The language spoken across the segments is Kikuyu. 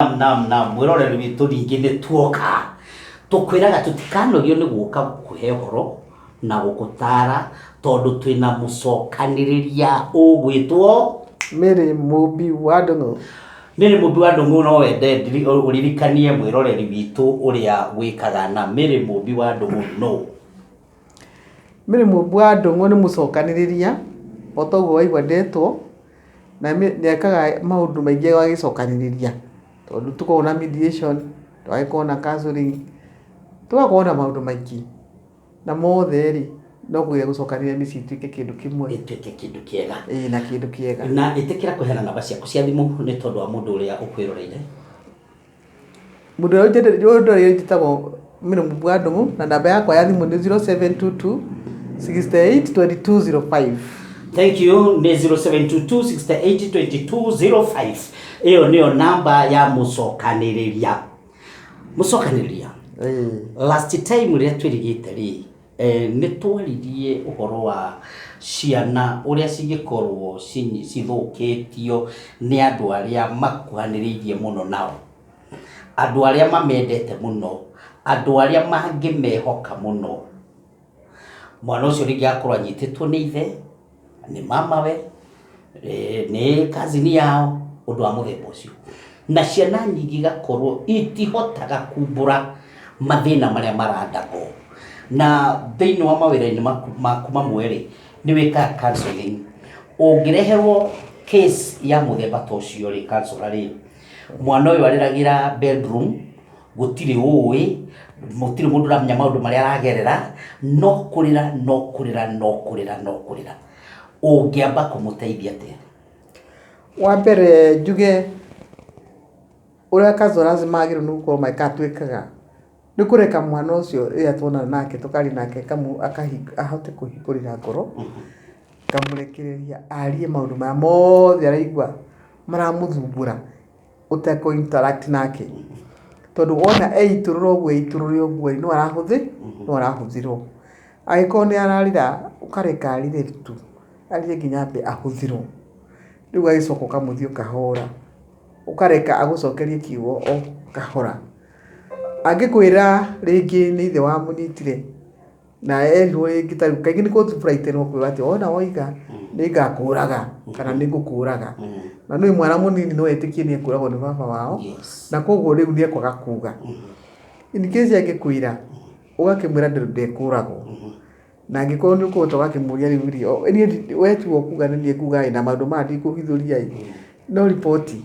Naam, naam, naam. Mwĩroreri witũ ningĩ nĩ tuoka. Tũkwĩraga tũtikanogio nĩ gũka gũkũhe ũhoro na gũgũtara tondũ twĩna mũcokanĩrĩria ũgwĩtwo Mary Mũmbi wa Ndũng'ũ. Mary Mũmbi wa Ndũng'ũ no wende ndiri- ũririkanie mwĩroreri witũ ũrĩa wĩkaga na Mary Mũmbi wa Ndũng'ũ nũ? Mary Mũmbu wa Ndũng'ũ nĩ mũcokanĩrĩria, o ta ũguo waigua ndetwo, na nĩ ekaga maũndũ maingĩ agĩcokanĩrĩria, tondũ nĩ tũkoragwo na mediation, tũgagĩkorwo na counselling, tũgakorwo na maũndũ maingĩ, na mothe rĩ, no kũgeria gũcokanĩrĩria mĩciĩ ĩtuĩke kĩndũ kĩmwe, ĩtuĩke kĩndũ kĩega. ĩĩ na kĩndũ kĩega. Na ĩtĩkĩra kũheana namba ciaku cia thimũ nĩ tondũ wa mũndũ ũrĩa ũkwĩroreire. Mũndũ ũrĩa ũnjendete, mũndũ ũrĩa njĩtagwo Miriam Bwandumu, na namba yakwa ya thimũ nĩ 0722 68 2205. Thank you nĩ 0722682205 ĩyo nĩyo namba ya mũcokanĩrĩria mũcokanĩrĩria Ĩĩ. last time rĩrĩa twĩrigĩte rĩ Nĩ twaririe ũhoro wa ciana ũrĩa cingĩkorwo cithũkĩtio nĩ andũ arĩa makuhanĩrĩirie mũno nao, andũ arĩa mamendete mũno, andũ arĩa mangĩmehoka mũno. Mwana ũcio rĩngĩ agakorwo anyitĩtwo nĩ ithe. nĩ mamawe, eh, nĩ kazini yao, ũndũ wa mũthemba ũcio. Na ciana nyingĩ igakorwo itihotaga kumbũra mathĩna marĩa marathagwo. Na thĩinĩ wa mawĩra-inĩ maku maku mamwe-rĩ, nĩ wĩkaga counselling. Ũngĩreherwo case ya mũthemba ta ũcio-rĩ, counsellor-rĩ, mwana ũyũ arĩragĩra bedroom, gũtirĩ ũĩ, gũtirĩ mũndũ ũramenya maũndũ marĩa aragerera, no kũrĩra, no kũrĩra, no kũrĩra, no kũrĩra. Ũngĩamba kũmũteithia atĩa? Wa mbere njuge ũrĩa Kazoras magĩrĩirwo nĩ gũkorwo magĩka atĩ twĩkaga, nĩ kũreka mwana ũcio rĩrĩa tuonana nake tũkaria nake ahote kũhingũrĩra ngoro, ngamũrekereria arie maũndũ marĩa mothe araigua maramũthumbũra. ũtekũ interact nake tondũ wona eitũrũra ũguo eitũrũre ũguo ĩ no arahũthĩ no arahũthĩrwo angĩkorwo nĩ ararĩra ũkareka arĩre tu arĩre nginya ambe ahũthĩrwo rĩu ũgagĩcoka ũkamũthiĩ kahora ũkareka agũcokerie kiugo o kahora angĩkwĩra rĩngĩ nĩ ithe wamũnyitire na erirwo rĩngĩ ta rĩu kaingĩ nĩ kũtu furaitĩrwo kuga atĩ wona woiga nĩ ngakũraga kana nĩ ngũkũraga na nĩ mwana mũnini no etĩkie nĩ ekũragwo nĩ baba wao Yes. na koguo rĩu nĩ ekwaga kuga in case angĩkwĩra ũgakĩmwĩra ndĩ- ndekũragwo na angĩkorwo nĩ ũkũhota ũgakĩmũria rĩu rĩ o- niĩ ndi- wetua kuga nĩ niĩ kuga ĩ na maũndũ maya ndikũhithũria ĩ no riboti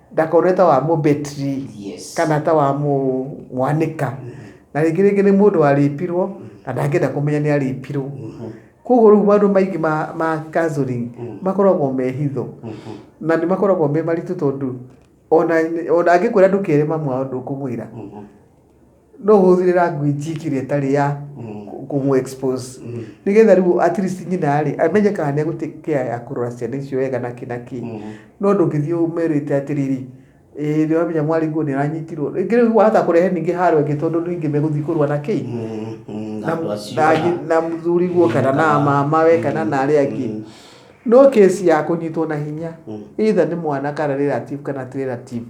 ndakorwo ta wa mũbetri Yes. kana ta wa mũ- mwanĩka na rĩngĩ rĩngĩ nĩ mũndũ warĩpirwo na ndangĩenda kũmenya nĩ arĩpirwo koguo rĩu maũndũ maingĩ ma, ma counseling makoragwo me hitho na nĩ makoragwo me maritũ tondũ ona ona angĩkwĩra ndũkere mamu wao ndũkũmwĩra no hũthĩre language ĩkĩrĩa ĩtarĩ ya kũmũ expose nĩgetha rĩu at least nyina rĩ amenye kana nĩ egũtĩ care ya kũrora ciana icio wega na kĩ na kĩ no ndũngĩthiĩ ũmerĩte atĩrĩrĩ ĩĩ nĩ wamenya mwarĩ nguo nĩ aranyitirwo rĩngĩ rĩu wahota kũrehe ningĩ haro ĩngĩ tondũ ningĩ megũthiĩ kũrũa na kĩ na- na- na mũthuri guo kana na mama we kana na arĩa angĩ no case ya kũnyitwo na hinya either nĩ mwana kana relative kana ti relative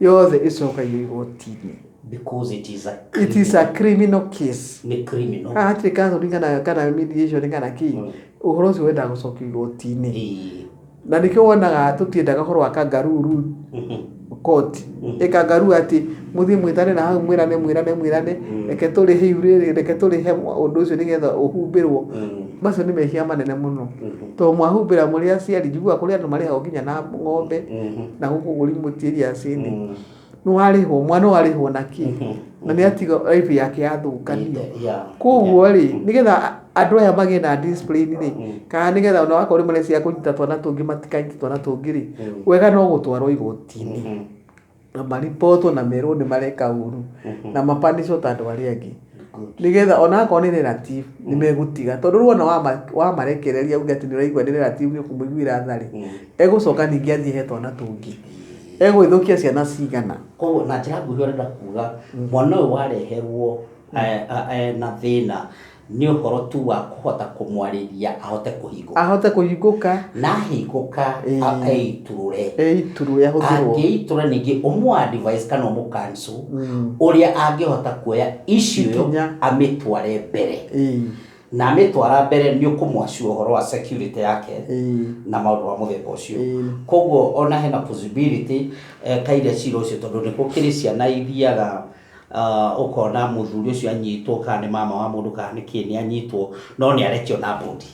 yothe ĩcokagio igoti-inĩ because it is a it is a criminal case nĩ criminal haha hatirĩ counseling kana kana mediation kana kĩ Mm. ũhoro ũcio wendaga gũcokio igoti-inĩ Ĩĩ. na nĩkĩo wonaga tũtiendaga ũhoro wa kangaruru Mhm. koti Mm. ĩkangaru atĩ mũthiĩ mwĩtane na hau mwĩrane mwĩrane mwĩrane Mm. reke tũrĩhe iurĩrĩ reke tũrĩhe ũndũ ũcio nĩgetha ũhumbĩrwo Mm. macio nĩ mehia manene mũno Mhm. to mwahumbĩra mũrĩ aciari njiguaga kũrĩ andũ marĩhagwo nginya na ng'ombe Mhm. na gũkũ gũri mũtiĩri acini Mm. nĩ warĩhwo mwana warĩhwo na kĩ Mhm. na nĩ atiga raibu yake yathũkanio Yeah. koguo rĩ nĩgetha andũ aya magĩe na discipline rĩ Mm. kana nĩgetha ona wakorwo rĩmwe nĩ cia kũnyita twana tũngĩ matikanyite twana tũngĩ rĩ Mm. wega no gũtwarwo igotinĩ Mhm. na maripotwo na merwo nĩ mareka ũru Mhm. na mapanicwo ta andũ arĩa angĩ Good. nĩgetha ona akorwo nĩ relative nĩ megũtiga tondũ rĩu ona wama- wamarekereria uge atĩ nĩ ũraigua nĩ relative nĩ ũkũmũiguĩra tharĩ Mm. egũcoka ningĩ athiĩ he twana tũngĩ egũĩthũkia ciana cigana koguo na njĩra nguhĩ ũrenda kuga mwana ũyũ wareherwo eh, eh, eh, na thĩna Nĩ ũhoro tu wa kũhota kũmwarĩria ahote kũhingũka. Ahote kũhingũka. Na ahingũka eitũrũre. Eitũrũre ahũthĩrwo. Angĩitũra ningĩ ũmũ advise kana ũmũ cancel mm. ũrĩa angĩhota kuoya issue ĩyo amĩtware mbere. Na amĩtwara mbere nĩ ũkũmwacu ũhoro wa security yake na maũndũ ma mũthemba ũcio. Koguo ona hena possibility eka iria cira ũcio tondũ nĩ gũkĩrĩ ciana ithiaga Uh, ukona muthuri ucio anyitwo kana ni mama wa mundu kana ni kii ni anyitwo no ni arekio na bodi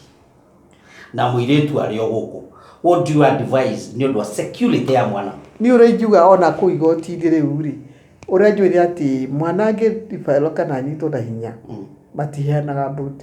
na muiritu ari o guku what do you advise ni undu wa security ya mwana Niĩ ũrĩa ingiuga ona kũu igoti-inĩ rĩu-rĩ, ũrĩa njũĩ nĩ atĩ mwana angĩ referral kana anyitwo na hinya, matiheanaga bond.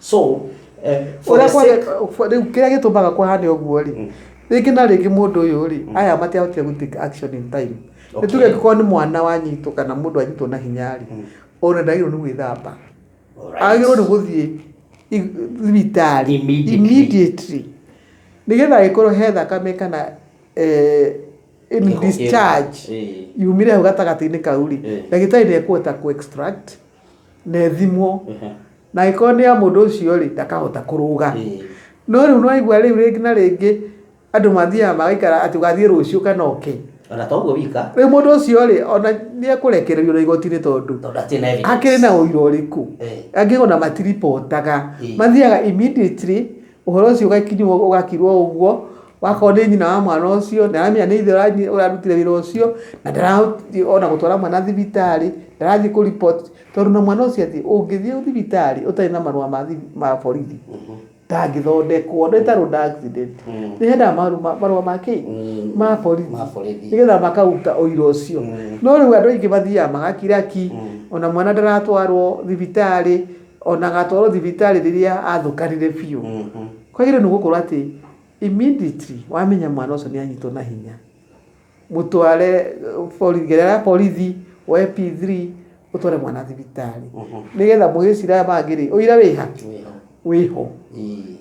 so eh, for the Ũrĩa kwari- sake- ũf- rĩu kĩrĩa gĩtũmaga kũhane ũguo rĩ Mm. rĩngĩ na rĩngĩ mũndũ ũyũ rĩ aya matiahotire gũ take action in time Okay. nĩtuge angĩkorwo nĩ mwana wanyitwo kana mũndũ anyitwo na hinya rĩ Mm. ona ndagĩrĩirwo nĩ gwĩthamba Alright. agĩrĩirwo nĩ gũthiĩ i- thibitarĩ Immediately. immediately nĩgetha agĩkorwo he thakame kana eh, in Kĩho- discharge eh. yumire hau gatagatĩ-inĩ kau rĩ Eh. ndagĩtarĩ nĩ ekũhota kũ extract na ĩthimwo Ehe. na angĩkorwo nĩ ya mũndũ ũcio rĩ ndakahota kũrũga Ĩĩ. no rĩu nĩwaigua rĩu rĩngĩ na rĩngĩ andũ mathiaga magaikara atĩ ũgathiĩ rũciũ kana oke ona to ũguo wika rĩu mũndũ ũcio rĩ ona nĩekũrekererio na igoti-inĩ tondũ tondũ atirĩ na evidence. akĩrĩ na ũira ũrĩkũ Eh. angĩkorwo na matiribotaga Ĩĩ. mathiaga immediately Ũhoro ũcio ũgagĩkinywo ũgakirwo ũguo, wakorwo nĩ nyina wa mwana ũcio, ndaramenya nĩ ithe ũrarutire wĩra ũcio, na ndarathiĩ ona gũtwara mwana thibitarĩ, ndarathiĩ kũ report, tondũ ona mwana ũcio athiĩ, ũngĩthiĩ thibitarĩ ũtarĩ na marũa ma ma borithi, ndangĩthondekwo, nĩ ta road accident, nĩ hendaga marũ marũa ma kĩ? ma borithi, nĩgetha makaruta ũira ũcio, no rĩu andũ aingĩ mathiaga magakira ki, ona mwana ndaratwarwo thibitarĩ. o na agatwarwo thibitarĩ rĩrĩa athũkanire biũ kwagĩrĩirwo nĩ gũkorwo atĩ immediately wamenya mwana ũcio nĩ anyitwo na hinya mũtware borithi gerera ya borithi woe P3 ũtware mwana thibitarĩ nĩgetha mũgĩcira aya mangĩ rĩ ũira wĩ ha? wĩ ho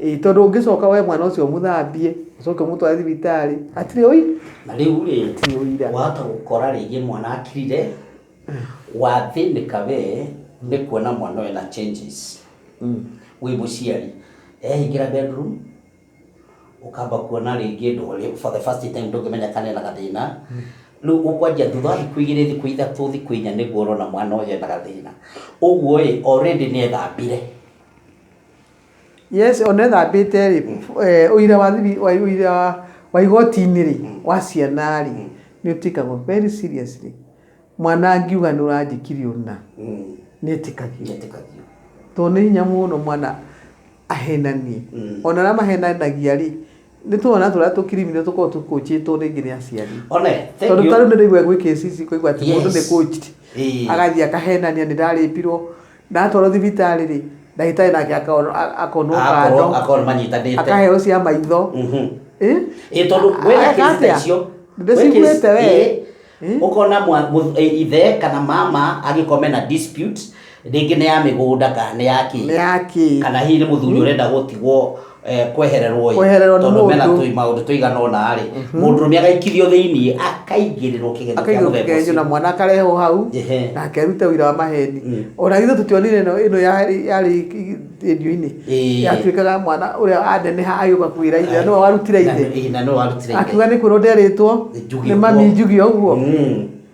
ĩĩ tondũ ũngĩcoka woe mwana ũcio ũmũthambie ũcoke ũmũtware thibitarĩ hatirĩ ũira na rĩu rĩ Hatirĩ ũira. wahota gũkora rĩngĩ mwana akirire Wathĩnĩka we nĩ kuona mwana ũyũ ena changes wĩ mũciari. Ehingĩra bedroom, ũkamba kuona rĩngĩ ndũrĩ, for the first time ndũngĩmenya kana ena gathĩna. Rĩu ũkwanjia thutha wa thikũ igĩrĩ, thikũ ithatũ, thikũ inya nĩguo ũrona mwana ũyũ ena gathĩna. Ũguo ĩ, already nĩ ethambire. Yes, ona ethambĩte rĩ, eh, ũira wa thibi- wa- ũira wa igoti-inĩ rĩ, wa ciana rĩ, nĩ ũtĩkagwo very seriously. Mwana angiuga nĩ ũranjĩkire ũna nĩ etĩkagio. Tondũ nĩ hinya mũno mwana ahenanie. Ona arĩa mahenanagia rĩ, nĩ tũana tũrĩa tũ criminal tũkoragwo tũ coachĩtwo rĩngĩ nĩ aciari. Tondũ ta rĩu nĩ ndĩraigua gwĩ cases ingĩ ũkaigua atĩ mũndũ nĩ coached agathiĩ akahenania nĩ nda rape irwo, Ndatwarwo thibitarĩ rĩ, ndagĩtarĩ nake akono- a- akonwo akorwo kando akorwo manyitanĩte akaheo cia maitho Mhm. Eh? Ĩ, tondũ wĩna Areka kĩrĩta atĩa? icio Ndĩciguĩte we. Eh? ũkona mwa- mũ- ĩ, ithe kana mama agĩkorwo mena dispute rĩngĩ nĩ ya mĩgũnda kana nĩ ya nĩ kĩ yakĩ kana hihi nĩ mũthuri ũrenda gũtigwo eh, kwehererwo ĩ, Kwehererwo nĩ tondũ mũndũ. mena tũi- maũndũ tũigana ũna rĩ mũndũrũme agaikithio thĩinĩ akaingĩrĩrwo kĩgerio kĩa akaigwo mũthemba kĩgeranio na ũcio mwana akarehwo hau Ehe. na akerute ũira wa maheni Mm. ona ithuĩ tũtionire ĩno ĩno yarĩ yarĩ redio-inĩ Ĩĩ. yatuĩkaga mwana ũrĩa aneneha agĩũka kwĩra ithe nĩwe warutire Na- ithe ĩ, na nĩwe warutire ithe akiuga nĩ kwĩrwo nderĩtwo Njugio nĩ mami ũguo. njugio ũguo Mm.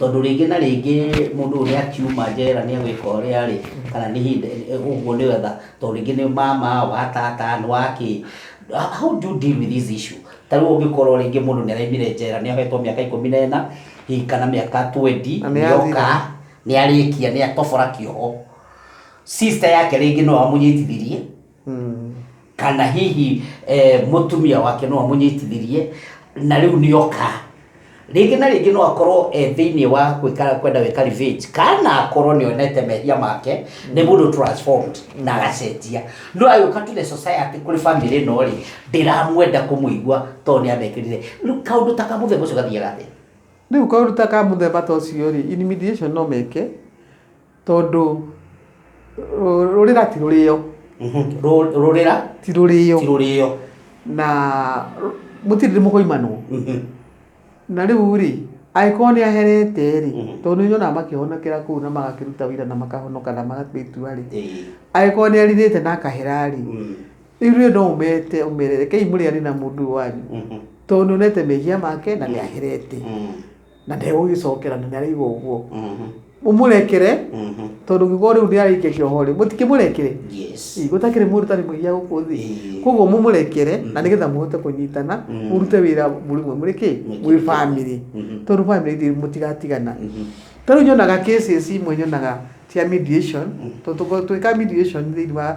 tondũ rĩngĩ na rĩngĩ mũndũ ũyũ nĩ akiuma njera nĩ egwĩka ũrĩa rĩ kana nĩ ihinda ũguo nĩ wetha tondũ rĩngĩ nĩ mama wa tata nĩ wa kĩ how do you deal with this issue ta rĩu ũngĩkorwo rĩngĩ mũndũ nĩ araimire njera nĩ ahetwo mĩaka ikũmi na ĩna hihi kana mĩaka 20 Na nĩ nĩ oka athira. nĩ arĩkia nĩ atobora kĩoho sister yake rĩngĩ no amũnyitithirie kana hihi eh, mũtumia wake no amũnyitithirie na rĩu nĩ oka rĩngĩ na rĩngĩ no akorwo e thĩinĩ wa gwĩka- kwenda gwĩka revenge kana akorwo nĩ onete mehia make nĩ mũndũ transformed na agacenjia no agĩũka to the society kũrĩ family ĩno rĩ ndĩramwenda kũmũigua tondũ nĩ amekĩrire Rĩu kaũndũ ta kamũthemba ũcio gathiaga atĩa rĩu kaũndũ ta ka mũthemba ta ũcio rĩ in mediation no meke tondũ rũ- rũrĩra ti rũrĩo rũrĩra ti rũrĩo ti rũrĩo na rũ- mũtirĩ ndĩ mũkoimanwo na rĩu rĩ angĩkorwo nĩ aherete rĩ tondũ nĩ nyonaga makĩhonokera kũu na magakĩruta wĩra na makahonoka na magakua itua rĩ angĩkorwo nĩ arirĩte na akahera rĩ rĩu rĩ no ũmete ũmere rekei mũrĩane na mũndũ ũyũ wanyu tondũ nĩ onete mehia make na nĩ aherete na ndegũgĩcokera na nĩaraiga ũguo Mhm. mũmũrekere Mhm. tondũ gĩgo rĩu nĩaraikia kĩoho rĩ mũtikĩmũrekere Yes. Ĩ, gũtakĩrĩ mũrutani mũiya gũkũ thĩ Ĩ. koguo mũmũrekere na nĩgetha mũhote kũnyitana Mm. mũrute wĩra mũrĩ mwe mũrĩ kĩ Mũingĩ mwĩ mũingĩ. bamĩrĩ Mhm. tondũ bamĩrĩ ithuĩ mũtigatigana Mhm. ta rĩu nyonaga cases imwe nyonaga cia mediation tondũ tũkorwo twĩka mediation thĩinĩ wa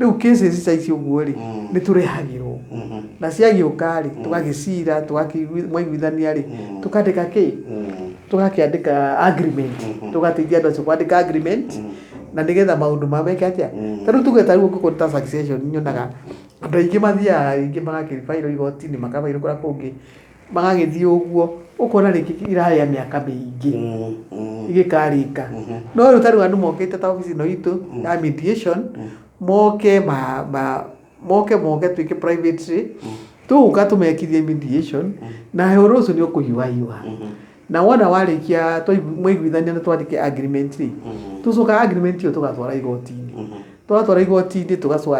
rĩu cases ta ici ũguo rĩ Mm. nĩ tũrehagĩrwo Mhm. na ciagĩũka rĩ tũgagĩcira tũgakĩigui- mwaiguithania rĩ tũkandĩka kĩ Mm. tũgakĩandĩka agreement Mhm. tũgateithia andũ acio kwandĩka agreement Mhm. na nĩgetha maũndũ ma meke atĩa Mhm. tarĩu tuge tarĩu ũngĩkorwo nĩ ta succession nyonaga andũ aingĩ mathiaga aingĩ magakĩbairwo igoti-inĩ makabairwo kũrĩa kũngĩ magagĩthiĩ ũguo ũkona rĩngĩ irarĩa mĩaka mĩingĩ igĩkarĩka no rĩu ta rĩu andũ mokĩte ta obici ĩno itũ ya mediation moke ma- ma- moke moke twĩke privately tũgũka tũmekithie mediation na ũhoro ũcio nĩ ũkũhiũha hiũha na wona warĩkia twaigui- mwaiguithania na twandĩke agreement rĩ tũcokaga agreement ĩyo tũgatwara igoti-inĩ twatwara igoti-inĩ tũgacoka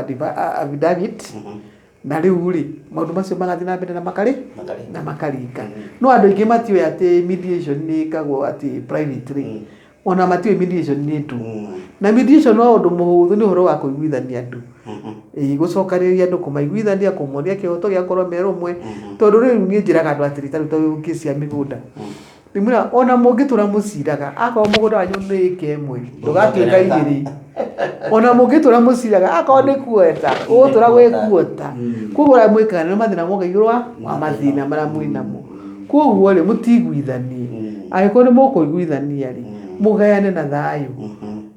affidavit na rĩu rĩ maũndũ macio marathiĩ na mbere na makarĩ Makarĩ. na makaringa no andũ aingĩ matiũĩ atĩ mediation nĩ ĩkagwo atĩ privately Mm. ona matiũĩ mediation nĩ ndũ Mm. na mediation no ũndũ mũhũthũ nĩ ũhoro wa kũiguithania andũ Mhm. Ĩĩ, gũcokanĩrĩria andũ kũmaiguithania kũmonia kĩhoto gĩakorwo merũmwe Mhm. tondũ rĩu niĩ njĩraga andũ atĩrĩ tarĩu ta kĩsi ya mĩgũnda Ndimwĩra ona mũngĩtũra mũciraga akorwo mũgũnda wanyu nĩ ĩka ĩmwe ndũgatuĩka igĩrĩ ona mũngĩtũra mũciraga akorwo nĩ kuota ũgũtũra gwĩ kuota koguo ũrĩa mwĩkaga nĩ mathĩna moka igũrũ wa wa mathĩna marĩa mwĩ namo koguo rĩ mũtiguithanie angĩkorwo nĩ mũkũiguithania rĩ mũgayane na thayũ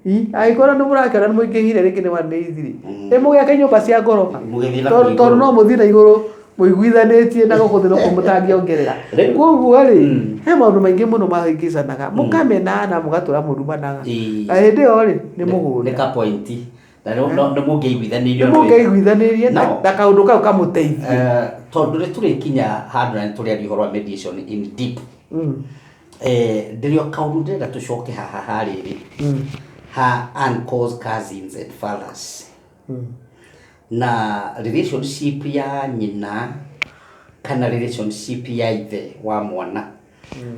I, angĩkorwo nĩ mũrakĩona nĩ mũingĩhire rĩngĩ nĩ one days rĩ ĩ mũgĩake nyũmba cia ngoroba Mũgĩthiĩ na tondũ kũrĩ tondũ no igũrũ. mũthiĩ na igũrũ mũiguithanĩtie na gũkũ thĩ noko mũtangĩongerera Rĩu- koguo rĩ Mm. he maũndũ maingĩ mũno mahĩngĩcanaga mũkamena na mũgatũra mũrumanaga Ĩĩ. na hĩndĩ ĩyo rĩ nĩ nĩ mũhũre ka point na no- no- nĩ mũngĩiguithanĩirio nĩ mũngĩiguithanĩrie na No. na kaũndũ kau kamũteithie Eh, tondũ nĩ tũrĩkinya handũ na nĩ tũrĩaria ũhoro wa mediation in deep Mm, Eh, ndĩrĩ o kaũndũ ndĩrenda tũcoke haha ha rĩrĩ mm, ha uncles cousins and fathers Na relationship ya nyina kana relationship ya ithe wa mwana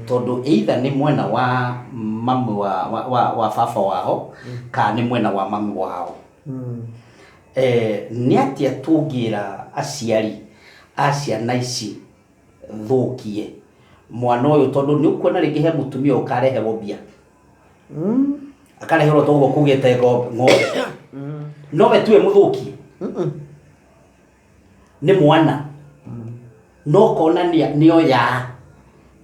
tondũ either nĩ mwena wa mamu wa, wa, wa, wa baba wao kana nĩ mwena wa mamu wao eh, nĩ atĩa tũngĩra aciari a ciana ici thũkie mwana ũyũ tondũ nĩ ũkuona rĩngĩ he mũtumia ũkareherwo mbia akareherwo toguo kugite ngo- ng'ombe no we tuwe muthuki nĩ mwana no kona nĩ oya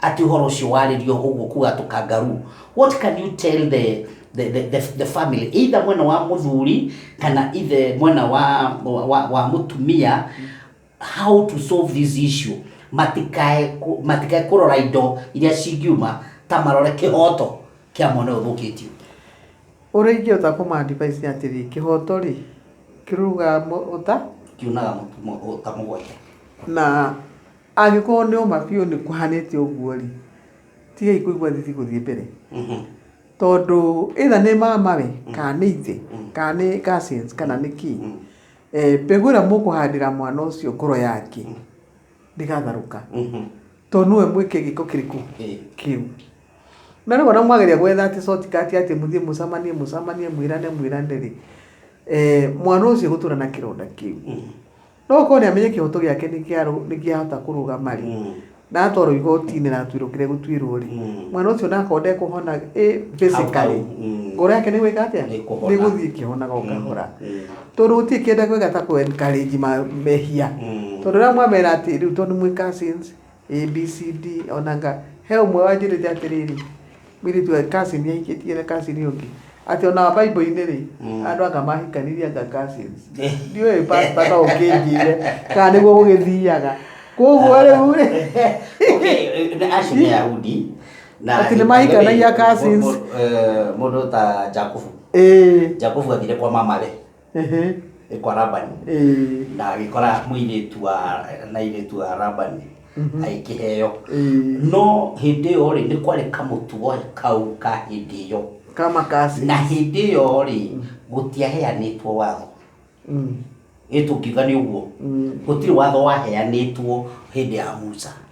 atĩ ũhoro ũcio warĩrio ũguo kuga tũkangaru what can you tell the, the, the, the, the family either mwena wa mũthuri kana ithe mwena wa, wa, wa, wa mũtumia how to solve this issue matikae kũ- matikae kũrora indo iria cingiuma ta marore kĩhoto kĩa mwana ũyũ ũthũkĩtio Ũrĩa ingĩhota kũma advise nĩ atĩrĩ, kĩhoto rĩ, kĩrugaga mũ- ũta, kiunaga mũtu- mũ- ũta mũgwanja na angĩkorwo nĩ ũma biũ nĩ kũhanĩte ũguo rĩ, tigai kũigua thithi gũthiĩ mbere. Mhm. Tondũ either nĩ mama we, kana nĩ ithe, kana nĩ cousins, kana nĩ kĩ. Eh, mbegũ ĩrĩa mũkũhandĩra mwana ũcio ngoro yake ndĩgatharũka tondũ nĩwe mwĩke gĩko kĩrĩkũ kĩu na rĩu ona mwageria gwetha atĩ shortcut atĩ mũthiĩ mũcamanie mũcamanie mwĩrane mwĩrane rĩ eh, mwana ũcio gũtũra na kĩronda kĩu no ũkorwo nĩ amenye kĩhoto gĩake nĩ kĩa- nĩ kĩahota kũrũgama rĩ na atwarwo igoti-inĩ na atuĩrwo kĩrĩa gũtuĩrwo rĩ Mm. mwana ũcio nakorwo ndekũhona ĩ physically Hau, hau, mm. ngoro yake nĩ gwĩka atĩa Nĩ kũhona. nĩ gũthiĩ ĩkĩhonaga o kahora Mm. tondũ gũtirĩ kĩndũ kwega ta kũ encourage ma- mehia Mm. tondũ rĩrĩa mwamera atĩ rĩu tondũ mwĩ cousins abcd onanga he ũmwe wanjĩrĩte atĩrĩrĩ Mũirĩtu ũyũ Catherine ahikĩtie na Catherine ũyũ ũngĩ. Atĩ ona Bible-inĩ rĩ, andũ anga mahikanirie anga Catherine. Ndiũĩ pastor no ũkĩnjĩre kana nĩguo gũgĩthiaga. Kũguo rĩu rĩ, Okay, acio nĩ Ayahudi. na- Ati nĩmahikanagia cousins. Mũndũ- mũndũ- eh, Mũndũ ta Jakubu. ĩĩ. Jakubu athire kwa mama rĩ. kwa Labani na agĩkora mũirĩtu wa na irĩtu wa Labani agĩkĩheo no hĩndĩ ĩyo rĩ nĩ kwarĩ kamũtugo kau ka hĩndĩ ĩyo kama kasi na hĩndĩ ĩyo rĩ gũtiaheanĩtwo watho ĩ tũngiuga nĩ ũguo gũtirĩ watho waheanĩtwo hĩndĩ ya Musa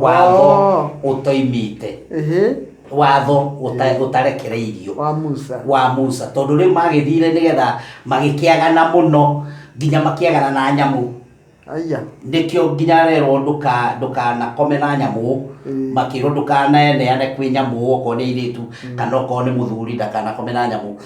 watho Oh. ũtoimĩte Ehe, watho ũta- ũtarekereirio wa Musa. wa musa tondũ rĩu magĩthire nĩgetha magĩkĩagana mũno nginya makĩagana na nyamũ Aya. nĩkĩo nginya rerwo ndũka- ndũkanakome na nyamũ Mm. makĩrwo ndũkaneneane kwĩ nyamũ okorwo nĩ airĩtu kana okorwo nĩ mũthuri ndakanakome na nyamũ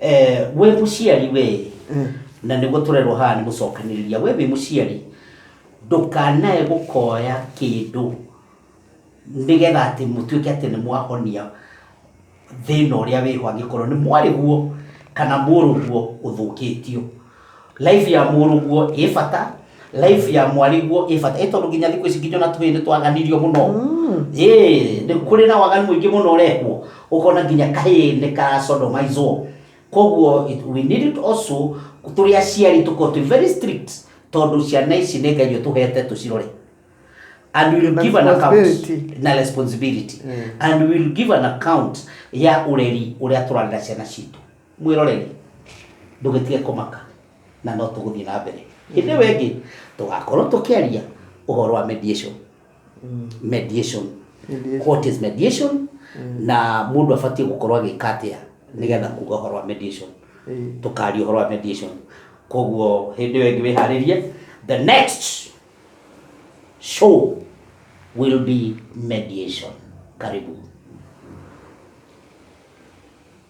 Eh, wĩ mũciari wĩ na nĩguo tũrerwo haha nĩ gũcokanĩrĩria wĩ wĩ mũciari ndũkanae gũkoya kĩndũ nĩgetha atĩ mũtuĩke atĩ nĩ mwahonia thĩna ũrĩa wĩho angĩkorwo nĩ mwarĩguo kana mũrũguo ũthũkĩtio Life ya mũrũguo ĩ bata life ya mwariguo ĩ bata ĩ tondũ nginya thikũ ici nginya ona tũhĩĩ nĩ twaganirio mũno ĩ nĩ kũrĩ na waganu mũingĩ mũno ũrekwo ũkona nginya kahĩĩ nĩ karacodomizwo koguo it- we need it also tũrĩ aciari tũkorwo twĩ very strict tondũ ciana ici nĩ ngai ũtũhete tũcirore and we will Na give an account responsibility. na responsibility Mm. and we will give an account ya ũreri ũrĩa tũrarera ciana citũ Mwĩroreri, ndũgĩtige kũmaka, na no tũgũthiĩ na mbere. Hĩndĩ ĩyo ĩngĩ tũgakorwo tũkĩaria ũhoro wa mediation. Mediation. What is mediation? Na mũndũ abatiĩ gũkorwo agĩka atĩa nĩgetha kuga ũhoro wa mediation. Tũkaria ũhoro wa mediation. Koguo hĩndĩ ĩyo ĩngĩ wĩharĩrie. The next show will be mediation. Karibu.